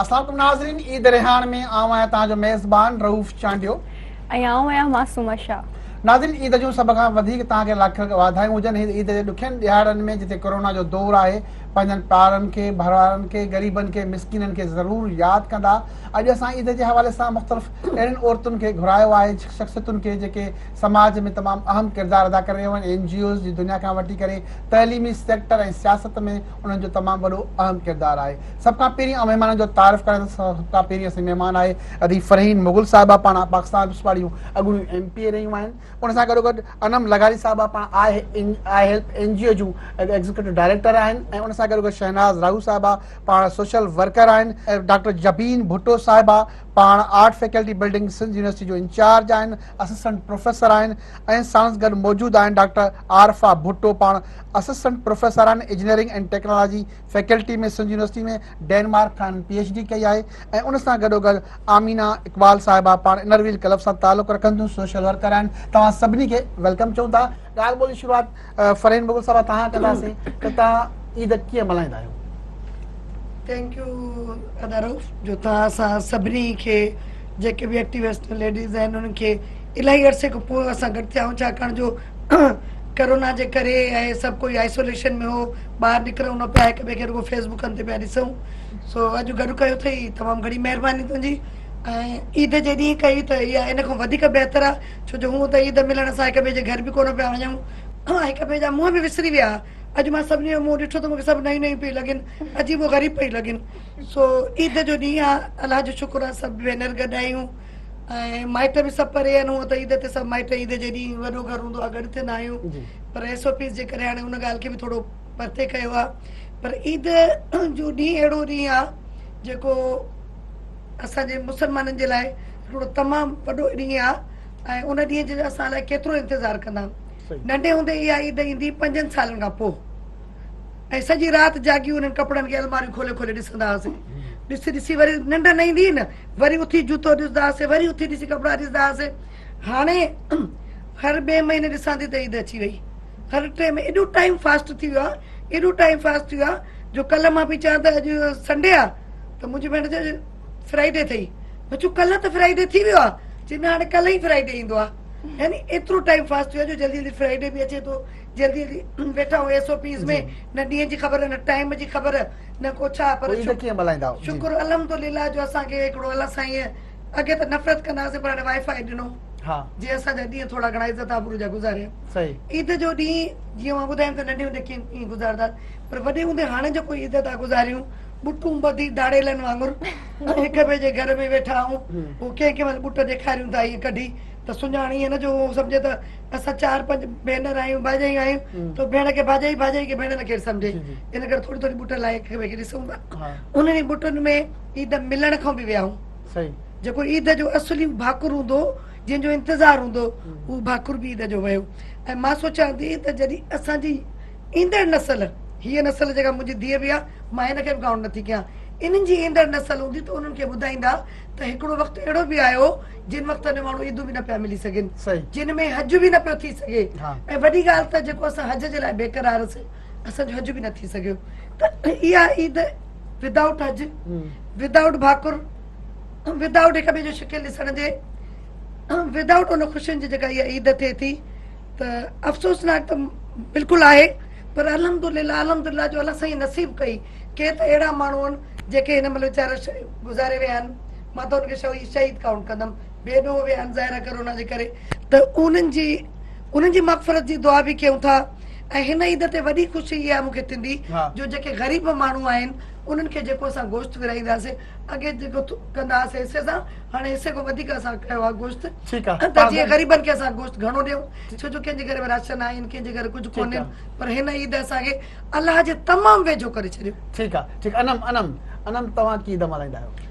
السلام عليڪم ناظرين عيد ريحان ۾ آئون آهيان توهان جو ميزبان رئوف چانڊيو ۽ آئون آهيان معصومه شاهه ناظرين عيد جون سڀ کان وڌيڪ توهان کي لاک کن واڌايون هجن هن عيد جي ڏکين ڏهاڙن ۾ جتي ڪورونا جو دور آهي پنهنجن پارن کي ڀرارن کي غريبن کي مسڪينن کي ضرور ياد ڪندا اڄ اسان عيد جي حوالي سان مختلف اهڙين عورتن کي گهرايو آهي، شخصيتن کي جيڪي سماج ۾ تمام اهم ڪردار ادا ڪري رهيون آهن، اين جي اوز جي دنيا کان وٺي ڪري تعليمي سيڪٽر ۽ سياست ۾ انهن جو تمام وڏو اهم ڪردار آهي. سڀ کان پهرين آئون مهمانن جو تعارف ڪريان ٿو سڀ کان پهرين اسان جي مهمان آهي ادي فرحين مغل صاحبه پاڻ پاڪستان پيپلز پارٽي جون اڳوڻيون ايم پي اي رهيون آهن ان سان گڏو گڏ انعم لغاري صاحبه پاڻ I help N G O جون ايگزيڪيوٽو ڊائريڪٽر آهن ۽ ان سان گڏو گڏ شهناز راهو صاحبه پاڻ سوشل ورڪر آهن ڊاڪٽر جبين ڀٽو صاحبه پاڻ art faculty building Sindh university جو انچارج آهن، اسسٽنٽ پروفيسر آهن ۽ ساڻس گڏ موجود آهن ڊاڪٽر عارفه ڀٽو پاڻ اسسٽنٽ پروفيسر آهن engineering and technology faculty ۾ Sindh university ۾ Denmark کان هنن پي ايڇ ڊي ڪئي آهي ۽ ان سان گڏوگڏ آمينا اقبال صاحبه پاڻ انرويل ڪلب سان تعلق رکن ٿيون سوشل ورڪر آهن توهان سڀني کي ويلڪم چئون ٿا. ڳالهه ٻولهه جي شروعات فرحين مغل صاحب تهان ڪنداسين ته تهان عيد ڪيئن ملهائيندا آهيو. ٿينڪ يو ادا رئوف جو تهان اسان سڀني کي جيڪي به ايڪٽيوسٽ ليڊيز آهن انهن کي الاهي عرصي کان پوء اسان گڏ ٿيا آهيون ڇاڪاڻ جو ڪرونا جي ڪري ۽ سڀ ڪوئي آئسوليشن ۾ هو ٻاهر نڪرون نه پيا هڪ ٻئي کي رڳو فيس بڪن تي پيا ڏسون سو اڄ گڏ ڪيو اٿئي تمام گهڻي مهرباني تنهنجي ۽ عيد جي ڏينهن ڪئي ته اها ان کان وڌيڪ بهتر آهي ڇو جو هونء ته عيد ملڻ سان هڪ ٻئي جي گهر به ڪونه پيا وڃون ۽ هڪ ٻئي جا منهن به وسري ويا ها. اڄ مان سڀني جو منهن ڏٺو ته مون کي سڀ نئيون نئيون پيون لڳين، عجيب و غريب پيون لڳين. سو عيد جو ڏينهن آهي، الله جو شڪر آهي سڀ ڀينر گڏ آهيون ۽ مائٽ به سڀ پري آهن، هونء ته عيد تي سڀ مائٽ عيد جي ڏينهن وڏو گهر هوندو آهي گڏ ٿيندا آهيون پر ايس او پيز جي ڪري هاڻي ان ڳالهه کي به ٿورو پرتي ڪيو آهي پر عيد جو ڏينهن اهڙو ڏينهن آهي جيڪو اسان جي مسلمانن جي لاء هڪڙو تمام وڏو ڏينهن آ ۽ ان ڏينهن جي اسان لاء ڪيترو انتظار ڪندا. ننڍي هوندي اها عيد ايندي پنجن سالن کان پوء ۽ سڄي رات جاڳي انهن ڪپڙن کي الماريون کولي کولي ڏسندا هئاسين. ڏسي ڏسي وري ننڊ نه ايندي هئي نه وري اٿي جوتو ڏسدا هئاسين وري اٿي ڏسي ڪپڙا ڏسدا هئاسين. هاڻي هر ٻئي مهيني ڏسان ٿي ته عيد اچي وئي. هر ٽي ۾ ايڏو ٽائيم فاسٽ ٿي ويو آ ايڏو ٽائيم فاسٽ ٿي ويو آ جو ڪلهه مان پئي چوان ته اڄ سنڊي آ ته منهنجي ڀيڻ چي اڄ فرائيڊي ٿئي مان چيو ڪلهه ته فرائيڊي ٿي ويو آ چي نه هاڻي ڪلهه ئي فرائيڊي ايندو آ يعني ايترو ٽائيم فاسٽ ٿي ويو آ جو جلدي جلدي فرائيڊي به اچي ٿو جلدي جلدي ويٺا آهيون ايس او پيز ۾ نه ڏينهن جي خبر نه ٽائيم جي خبر نه ڪو ڇا پر شڪر الحمدلله جو اسان کي هڪڙو الله سائين اڳي ته نفرت ڪندا هئاسين پر هاڻي وائي فائي ڏنو جي اسان جا ڏينهن ٿورا گهڻا عزت آبرو جا گذاريا. عيد جو ڏينهن جيئن مان ٻڌايم ته ننڍي هوندي ڪيئن ڪيئن گذارندا هئاسين پر وڏي هوندي هاڻي جيڪو عيد ٿا گذاريون ٻٽون ٻڌي ڌاڙيلن وانگر هڪ ٻئي جي گهر ۾ ويٺا آهون هو ڪنهن ڪنهن مهل ٻٽ ڏيکاريون ٿا ائين ڪڍي ته سڃاڻ ائين نه جو هو سمجهي ته اسان چار پنج ڀينر آهيون ڀاڄايون آهيون ته ڀيڻ کي ڀاڄائي ڀاڄائي کي ڀيڻ نه ڪير سمجهي ان ڪري ٿوري ٿوري ٻٽ لاهي هڪ ٻئي کي ڏسون ٿا انهن ئي ٻٽن ۾ عيد ملڻ کان به ويائون. جيڪو عيد جو اصلي ڀاڪر هوندو هو، جنهن جو انتظار هوندو هو، اهو ڀاڪر به عيد جو ويو ۽ مان سوچيان ٿي ته جڏهن اسان جي ايندڙ نسل، هيء نسل جيڪا منهنجي ڌيء به آهي، مان هن کي به ڪائونٽ نٿي ڪيان، انهن جي ايندڙ نسل هوندي ته انهن کي ٻڌائيندا ته هڪڙو وقت اهڙو به آيو هو، جنهن وقت ۾ ماڻهو عيدون به نه پيا ملي سگهن، جنهن ۾ حج به نه پيو ٿي سگهي ۽ وڏي ڳالهه ته جيڪو اسان حج جي لاء بيقرار سين، اسان جو حج به نه ٿي سگهيو ته اها عيد ودائوٽ حج ودائوٽ ڀاڪر ودائوٽ هڪ ٻئي جو شڪل ڏسڻ جي ودائوٽ ان خوشين جي جيڪا اها عيد ٿئي ٿي ته افسوسناڪ ته بلڪل آهي پر الحمد لله الحمد لله جو الله سائين نصيب ڪئي ڪي ته اهڙا ماڻهو آهن جيڪي هن مهل ويچارا گذاري ويا آهن مان ته ان کي شهيد شهيد ڪائونٽ ڪندم بي ڏوهه ويا آهن ظاهر ڪرونا جي ڪري ته انهن جي انهن جي مغفرت جي دعا به ڪيون ٿا ۽ هن عيد تي وڏي خوشي اها مون کي ٿيندي جو جيڪي غريب ماڻهو آهن انهن کي جيڪو اسان گوشت ورهائينداسين اڳي جيڪو ڪندا هئاسين حصي سان هاڻي حصي کان وڌيڪ اسان ڪيو آهي گوشت ته جيئن غريبن کي اسان گوشت گهڻو ڏيون ڇو جو ڪنهن جي گهر ۾ راشن آهن ڪنهن جي گهر ڪجهه ڪونهن پر هن عيد اسان کي الله جي تمام ويجهو ڪري ڇڏيو ٺيڪ آهي ٺيڪ انعم انعم انعم توهان ڪي عيد ملهائيندا آهيو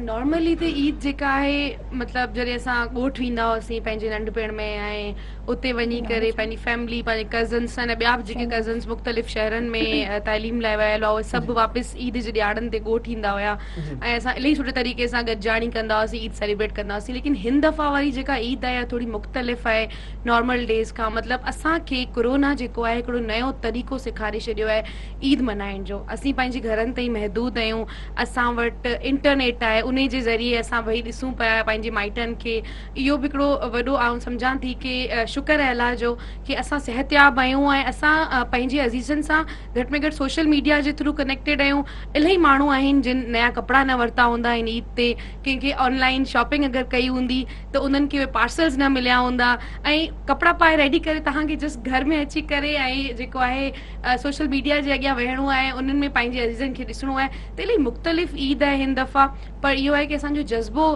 نارملي ته عيد جيڪا آهي مطلب جڏهن اسان ڳوٺ ويندا هئاسين پنهنجي ننڍپڻ ۾ ۽ اتي وڃي ڪري پنهنجي فيملي پنهنجي ڪزنس سان ٻيا به جيڪي ڪزنس مختلف شهرن ۾ تعليم لاء ويل هئا اهي سڀ واپس عيد جي ڏيهاڙن تي ڳوٺ ايندا هيا ۽ اسان الائي سٺي طريقي سان گڏجاڻي ڪندا هئاسين عيد سيليبريٽ ڪندا هئاسين ليڪن هن دفعا واري جيڪا عيد آهي اها ٿوري مختلف آهي نارمل ڊيز کان مطلب اسان کي ڪورونا جيڪو آهي هڪڙو نيو طريقو سيکاري ڇڏيو آهي عيد ملهائڻ جو اسين پنهنجي گهرن تائين محدود آهيون اسان وٽ انٽرنيٽ آهي انهي جي ذريعي اسان ويهي ڏسون پيا پنهنجي مائٽن کي اهو به هڪڙو وڏو آئون سمجهان ٿي ڪي شڪر آهي الله جو ڪي اسان صحتياب آهيون ۽ اسان پنهنجي عزيزن سان گهٽ ۾ گهٽ سوشل ميڊيا جي ٿرو ڪنيڪٽيڊ آهيون الهي ماڻهو آهن جن نيا ڪپڙا نه ورتا هوندا هن عيد تي ڪنهن کي آن لائين شاپنگ اگر ڪئي هوندي ته انهن کي اهي پارسلز نه مليا هوندا ۽ ڪپڙا پائي ريڊي ڪري توهان کي جسٽ گهر ۾ اچي ڪري ۽ جيڪو آهي سوشل ميڊيا جي اڳيان ويهڻو آهي انهن ۾ پنهنجي عزيزن کي ڏسڻو آهي ته الهي مختلف عيد آهي هن دفعا پر اهو آهي ڪي اسان جو جذبو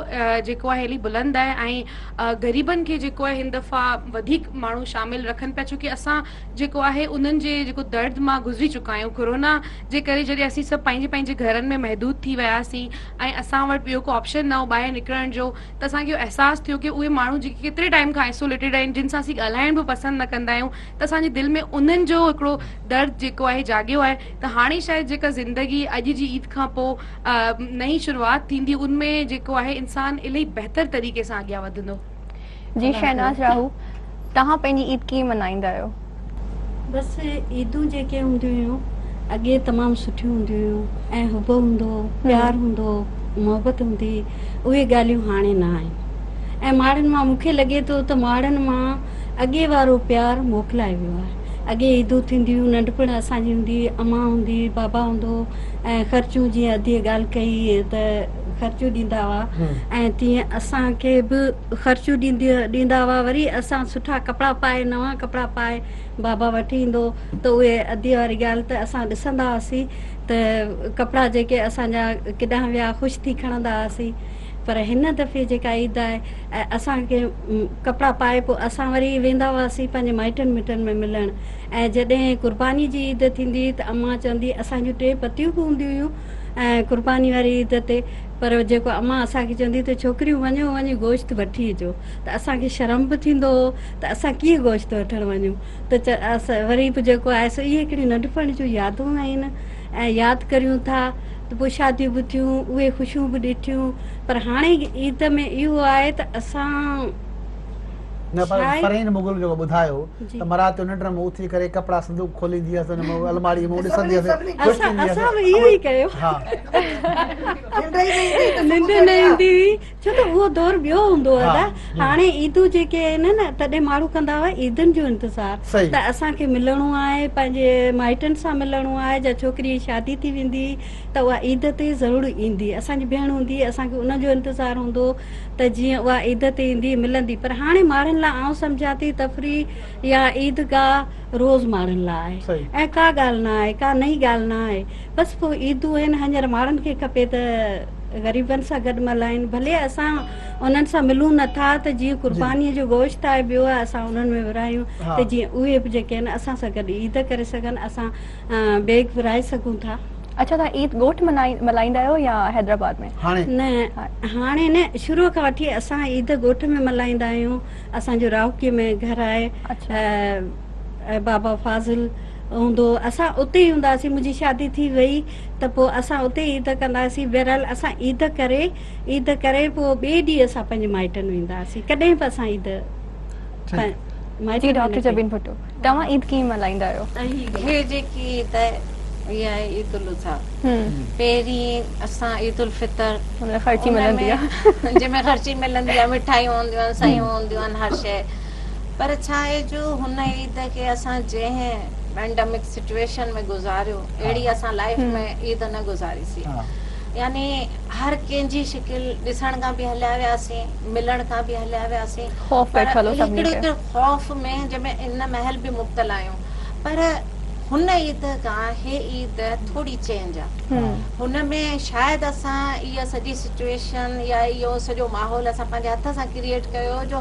جيڪو آهي الي بلند آهي ۽ غريبن کي جيڪو آهي هن دفعا وڌيڪ ماڻهو شامل رکن پيا ڇو ڪي اسان جيڪو آهي انهن جي جيڪو درد مان گذري چڪا آهيون ڪورونا جي ڪري جڏهن اسين سڀ پنهنجي پنهنجي گهرن ۾ محدود ٿي وياسين ۽ اسان وٽ ٻيو ڪو آپشن نه هو ٻاهر نڪرڻ جو ته اسان کي اهو احساس ٿيو ڪي اهي ماڻهو جيڪي ڪيتري ٽائيم کان آئسوليٽيڊ آهن جن سان اسين ڳالهائڻ به پسند نه ڪندا آهيون ته اسان جي دل ۾ انهن جو هڪڙو درد جيڪو آهي جاڳيو آهي ته هاڻي شايد جيڪا زندگي اڄ جي عيد کان پو نئين شروعات ٿيندي ان ۾ جيڪو آهي انسان الائي بهتر طريقي سان اڳيان وڌندو. جي شهناز راهو توهان پنهنجي عيد ڪيئن منائيندا آهيو. بس عيدون جيڪي هونديون هيون اڳي تمام سٺيون هونديون هيون ۽ حب هوندو هو پيار هوندو هو محبت هوندي هئي اهي ڳالهيون هاڻي نه آهن ۽ ماڙن مان مون کي لڳي ٿو ته ماڙن مان اڳي وارو پيار موڪلائي ويو آهي اڳي عيدون ٿينديون هيون ننڍپڻ اسان جي هوندي هئي امان هوندي هئي بابا هوندو هو ۽ خرچون جيئن اديء ڳالهه ڪئي ته خرچون ڏيندا هئا ۽ تيئن اسان کي به خرچون ڏيندا هئا وري اسان سٺا ڪپڙا پائي نوان ڪپڙا پائي بابا وٺي ايندو ته اهي اديء واري ڳالهه ته اسان ڏسندا هئاسين ته ڪپڙا جيڪي اسان جا ڪيڏانهن ويا خوش ٿي کڻندا هئاسين پر هن دفعي جيڪا عيد آئي اسان کي ڪپڙا پائي پوء اسان وري ويندا هئاسين پنهنجي مائٽن مٽن ۾ ملڻ ۽ جڏهن قرباني جي عيد ٿيندي هئي ته امان چوندي اسان جون ٽي پتيون به هونديون هيون قرباني واري عيد تي پر جيڪو امان اسان کي چوندي ته ڇوڪريون وڃو وڃي گوشت وٺي اچو ته اسان کي شرم به ٿيندو هو ته اسان ڪيئن گوشت وٺڻ وڃون ته وري به جيڪو آهي سو اهي هڪڙيون ننڍپڻ جون يادون آهن ۽ ياد ڪريون ٿا ته پوء شاديون به ٿيون اهي خوشيون به ڏٺيون پر هاڻي عيد ۾ اهو آهي ته اسان نه پر پرين مغل جيڪو ٻڌايو ته مراد چيو ننڊ ۾ اٿي ڪري ڪپڙا صندوق کوليندي هيس ان ۾ الماڙي ۾ ڏسندي هيس خوش ٿيندي هيس اسان اهو ئي ڪيو ها ننڊ نه ايندي هئي ڇو ته اهو دور ٻيو هوندو هو ادا هاڻي عيدون جيڪي آهن نه تڏهن ماڻهو ڪندا هئا عيدن جو انتظار ته اسان کي ملڻو آهي پنهنجي مائٽن سان ملڻو آهي جا ڇوڪري جي شادي ٿي ويندي ته اها عيد تي ضرور ايندي اسان جي ڀيڻ هوندي اسان کي ان جو انتظار هوندو ته جيئن اها عيد تي ايندي ملندي پر هاڻي ماڻهن لاء آئون سمجهان ٿي تفريح يا عيدگاهه روز ماڻهن لاء آهي ۽ ڪا ڳالهه نه آهي ڪا نئين ڳالهه نه آهي بس پوء عيدون آهن هڃر ماڻهن کي کپي ته غريبن سان گڏ ملهائين ڀلي اسان انهن سان ملون نه ٿا ته جيئن قرباني جو گوشت آهي ٻيو آهي اسان انهن ۾ ورهايون ته جيئن اهي به جيڪي آهن اسان سان گڏ عيد ڪري سگهن اسان بيگ ورهائي سگهون ٿا. اڇا توهان عيد ڳوٺ ملهائيندا آهيو يا حيدرآباد ۾؟ هاڻي نه هاڻي نه شروع کان وٺي اسان عيد ڳوٺ ۾ ملهائيندا آهيون اسان جو راهوڪي ۾ گهر آهي بابا فاضل هوندو هو اسان اتي ئي هوندا هئاسين منهنجي شادي ٿي وئي ته پوء اسان اتي ئي عيد ڪندا هئاسين بهرحال اسان عيد ڪري عيد ڪري پوء ٻئي ڏينهن اسان پنهنجي مائٽن ويندا هئاسين ڪڏهن به اسان عيد مائٽن جي نه ڪئي. توهان عيد ڪيئن ملهائيندا آهيو؟ هي جيڪي عيد آهي هي آهي عيد الاضحيٰ پهرين اسان عيد الفطر ان ۾ جنهن ۾ خرچي ملندي آهي مٺايون هونديون آهن سيون هونديون آهن هر شيء پر ڇا آهي جو هن عيد کي اسان جنهن پينڊمڪ سچويشن ۾ گذاريو اهڙي اسان لائيف ۾ عيد نه گذاري سي يعني هر ڪنهن جي شڪل ڏسڻ کان به هليا وياسين ملڻ کان به هليا وياسين پر هڪڙو خوف ۾ جنهن ۾ ان مهل به مبتلا آهيون پر هن عيد کان هي عيد ٿوري چينج آ هن ۾ شايد اسان اها سڄي سچوئيشن يا اهو سڄو ماحول اسان پنهنجي هٿ سان ڪريئيٽ ڪيو جو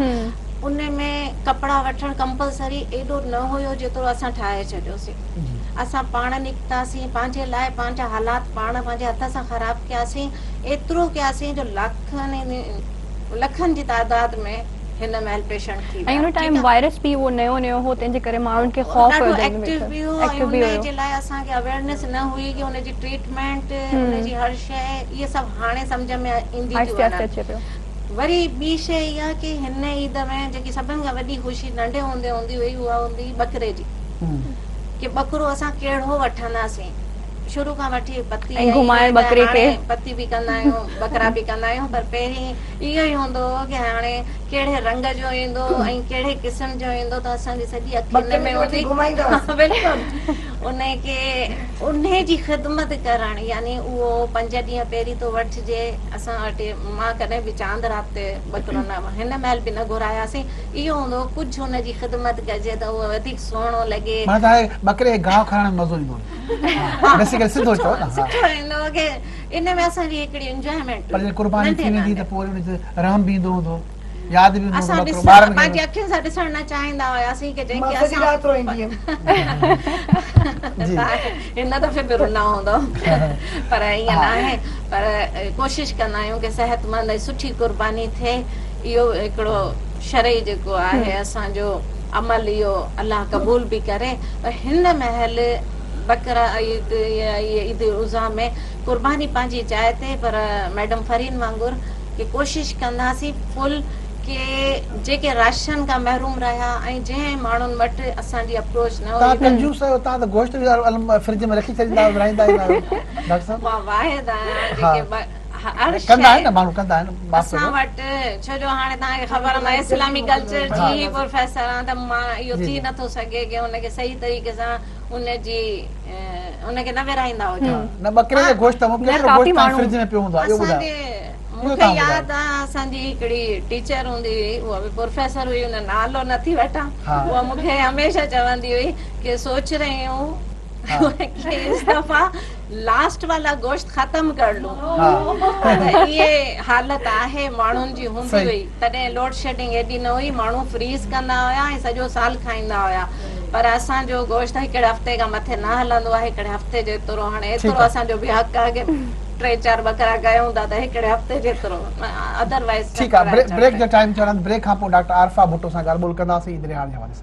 ان ۾ ڪپڙا وٺڻ ڪمپلسري ايڏو نه هيو جيترو اسان ٺاهي ڇڏيوسين اسان پاڻ نڪتاسين پنهنجي لاء پنهنجا حالات پاڻ پنهنجي هٿ سان خراب ڪياسين ايترو ڪياسين جو لاکن لکن جي تعداد ۾ هن مهل پيشنٽ ٿي ويا ۽ ٽائيم وائرس به اهو نيو نيو هو تنهن جي ڪري ماڻهن کي خوف هو ڏاڍو ايڪٽو به هو ۽ ان جي لاء اسان کي اويرنس نه هئي ڪي ان جي ٽريٽمينٽ ان جي هر شئي اهي سڀ هاڻي سمجهه ۾ ايندي ٿيون وڃن وري ٻي شئي اها ڪي هن عيد ۾ جيڪي سڀن کان وڏي خوشي ننڍي هوندي هوندي هئي اها هوندي هئي ٻڪري جي ڪي ٻڪرو اسان ڪهڙو وٺنداسين شروع کان وٺي بتي ۽ گهمائڻ ٻڪري کي. هاڻي بتي به ڪندا آهيون ٻڪرا به ڪندا آهيون پر پهرين اهو ئي هوندو هو ڪي هاڻي ڪهڙي رنگ جو ايندو ۽ ڪهڙي قسم جو ايندو ته اسان جي سڄي اکي ان ۾ هوندي بلڪل انهي کي انهي جي خدمت ڪرڻ يعني اهو پنج ڏينهن پهرين ٿو وٺجي اسان وٽ مان ڪڏهن به چاند رات تي ٻڪرو نه هن مهل به نه گهراياسين اهو هوندو هو ڪجهه ان جي خدمت ڪجي ته اهو وڌيڪ سهڻو لڳي. مانا ته هاڻي ٻڪري کي گاهه کارائڻ ۾ مزو ايندو هوندو. بيسيڪلي سڌو چئو نه سٺو ائين لڳو ڪي ان ۾ اسان جي هڪڙي انجوائمينٽ پر جي قرباني ٿي ويندي ته پوء ان تي رحم به ايندو هوندو ياد به ايندو هوندو اسان ڏسڻ پنهنجي اکين سان ڏسڻ نه چاهيندا هياسين ڪي جنهن کي اسان مان سڄي رات روئيندي هيم هن دفعي به رونا هوندو پر ائين نه آهي پر ڪوشش ڪندا آهيون ڪي صحت مند ۽ سٺي قرباني ٿئي اهو هڪڙو شرعي جيڪو آهي اسان جو عمل اهو الله قبول به ڪري پر هن مهل بقره عيد يا عيد الاضحي ۾ قرباني پنهنجي جاء تي پر ميڊم فرين وانگر ڪي ڪوشش ڪنداسين فل ڪي جيڪي راشن کان محروم رهيا ۽ جنهن ماڻهن وٽ اسان جي اپروچ نه هئي تان ڪنجوس آهيو تان ته گوشت به فرج ۾ رکي ڇڏيندا آهيو ورهائيندا ئي نه آهيو ڊاڪٽر صاحب مان واحد آهيان جيڪي هر شئي ڪندا آهن نه ماڻهو ڪندا آهن معاف ڪجو اسان وٽ ڇو جو هاڻي تهان کي خبر مان اسلامي ڪلچر جي هي پروفيسر آهان ته مان اهو ٿي نه ٿو سگهي ڪي ان کي صحيح طريقي سان ان جي ان کي نه ورهائيندا هجو نه ٻڪري جو گوشت ته ٻڪري جو گوشت تان فرج ۾ پيو هوندو آهي اهو ٻڌايو اهو تهان ٻڌايو ياد آهي اسان جي هڪڙي ٽيچر هوندي هئي اها به پروفيسر هئي ان نالو نه ٿي وٺان اها مون کي هميشه چوندي هئي ڪي سوچ رهي هون ڪي استفا لاسٽ والا گوشت ختم ڪر لون پر اهي حالت آهي ماڻهن جي هوندي هئي تڏهن لوڊ شيڊنگ ايڏي نه هئي ماڻهو فريز ڪندا هيا ۽ سڄو سال کائيندا هيا پر اسان جو گوشت هڪڙي هفتي کان مٿي نه هلندو آهي هڪڙي هفتي جيترو هاڻي ايترو اسان جو به حق آهي ٽي چار ٻڪرا ڪيون ٿا ته هڪڙي هفتي جيترو اڌر وائيز ٺيڪ آهي بريڪ جو ٽائيم ٿيو آهي بريڪ کان پوء ڊاڪٽر عارفه ڀٽو سان ڳالهه ٻولهه ڪنداسين ايندڙي هار جي حوالي سان